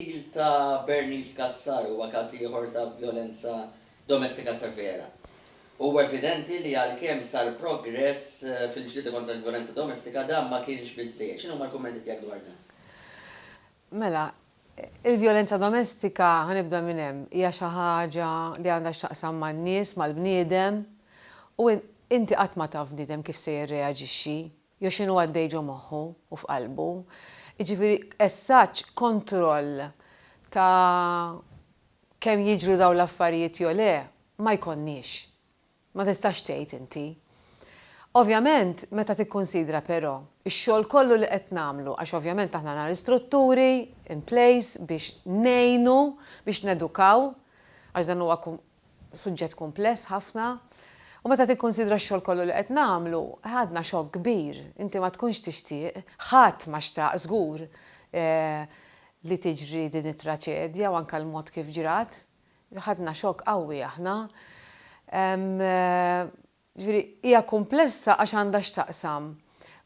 Il-qtil ta' Bernice Cassar huwa każ ieħor ta' vjolenza domestika severa. Huwa evidenti li għalkemm sar progress fil-ġlieda kontra l-vjolenza domestika, dan ma kienx biżżejjed. X'inhuma l-kummenti tiegħek dwar dan? Mela, il-vjolenza domestika, ħa nibda minn hemm, hija xi ħaġa li għandha x'taqsam man-nies, mal-bniedem u inti qatt ma taf bniedem kif se jirreaġixxi. Jew x'inhu għaddej ġo moħħu u f'qalbu. Jiġifieri essaġġ kontroll ta' kemm jiġru dawn l-affarijiet jew le ma jkollniex. Ma tistax tgħid inti. Ovvjament meta tikkunsidra però x-xogħol kollu li qed nagħmlu għax ovvjament aħna għandna l-istrutturi in place biex ngħinu, biex nedukaw għax dan huwa Suġġett kumpless ħafna u meta tikkunsidra x-xogħol kollu li qed nagħmlu, għadna xokk kbir. Inti ma tkunx tixtieq, ħadd ma xtaq żgur, li tiġri din it-traċedja u anke l-mod kif ġrat. Ħadna xokk qawwi aħna. Jiġifieri, hija kumplessa għax għandha x'taqsam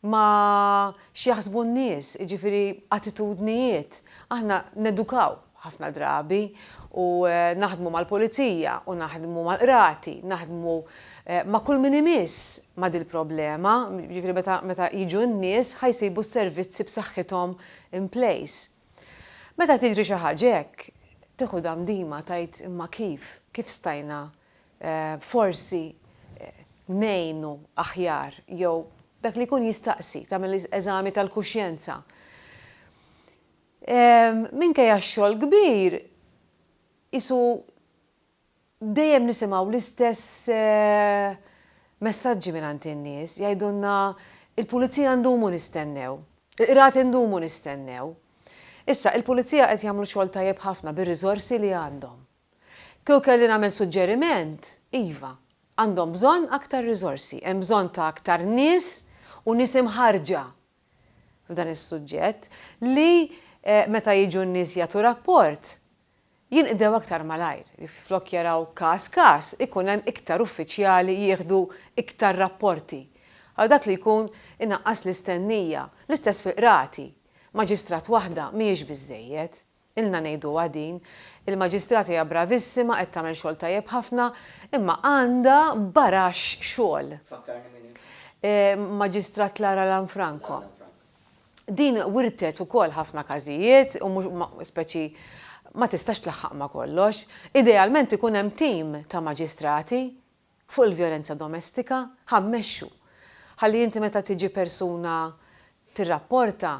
ma' x'jaħsbu n-nies, jiġifieri attitudnijiet. Aħna nedukaw ħafna drabi u naħdmu mal-pulizija u naħdmu mal-qrati, naħdmu ma' kull min imiss ma' dil-problema, jiġifieri meta meta jiġu n-nies ħa jsibu s-servizzi b'saħħithom in place. Meta tiġri xi ħaġa hekk, tieħu damdima tgħid imma kif, kif stajna forsi ngħinu aħjar jew dak li jkun jistaqsi tagħmel eżami tal-kuxjenza. Minkejja x-xogħol kbir qisu dejjem nisimgħu l-istess messaġġi mingħand in-nies jgħidulna il-pulizija ndumu nistennew, il-qrati ndumu nistennew. Issa, il-pulizija qed jagħmlu xogħol tajjeb ħafna bir-riżorsi li għandhom. Kieku kelli nagħmel suġġeriment, iva, għandhom bżonn aktar riżorsi, hemm bżonn ta' aktar nies u nies imħarrġa f'dan is-suġġett li meta jiġu n-nies jagħtu rapport, jinqdew aktar malajr, li flok jaraw każ każ, ikun hemm iktar uffiċjali jieħdu iktar rapporti, għal dak li jkun inaqqas l-istennija. L-istess fil-qrati. Maġistrat waħda mhijiex biżżejjed. Ilna ngħiduha din. Il-Maġistrata hija bravissima, qed tagħmel xogħol tajjeb ħafna, imma għandha baraxx xogħol. Fakkarni min hi? Maġistrat Lara Lanfranco. Din wirtet ukoll ħafna każijiet u mhux ma speċi ma tistax tlaħħaq ma' kollox. Idealment ikun hemm tim ta' maġistrati fuq il-vjolenza domestika ħa mmexxu. Ħalli inti meta tiġi persuna tirrapporta,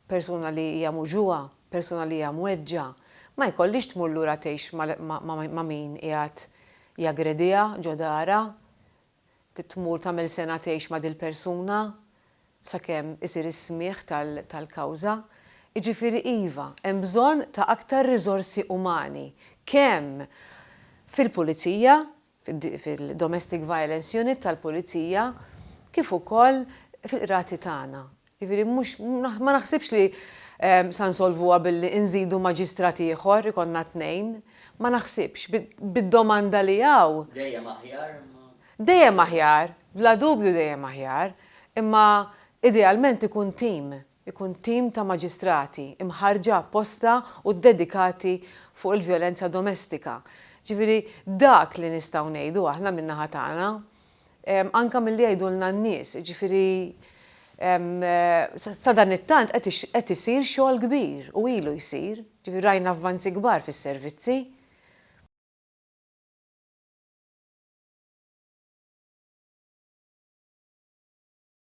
persuna li hija muġugħa, persuna li hija mweġġgħa, ma jkollhiex tmur lura tgħix ma' min qiegħed jaggrediha ġo darha, tmur tagħmel sengħa tgħix ma' dil-persuna sakemm isir is-smigħ tal-kawża. Jiġifieri iva, hemm bżonn ta' aktar riżorsi umani kemm fil-pulizija fil-Domestic Violence Unit tal-Pulizija kif ukoll fil-Qrati tagħna. Jiġifieri mhux ma naħsibx li sa nsolvuha billi inżidu maġistrat ieħor, ikollna tnejn. Ma naħsibx, bid-domanda li hawn. Dejjem aħjar imma. Dejjem aħjar, bla dubju dejjem aħjar, imma idealment ikun team. ikun tim ta' maġistrati mħarrġa apposta u ddedikati fuq il-vjolenza domestika. Ġifieri dak li nistgħu ngħidu aħna min-naħa tagħna, anke milli jgħidulna n-nies, jiġifieri sadanittant qed isir xogħol kbir u ilu jsir, ġifieri rajna avvanzi kbar fis-servizzi.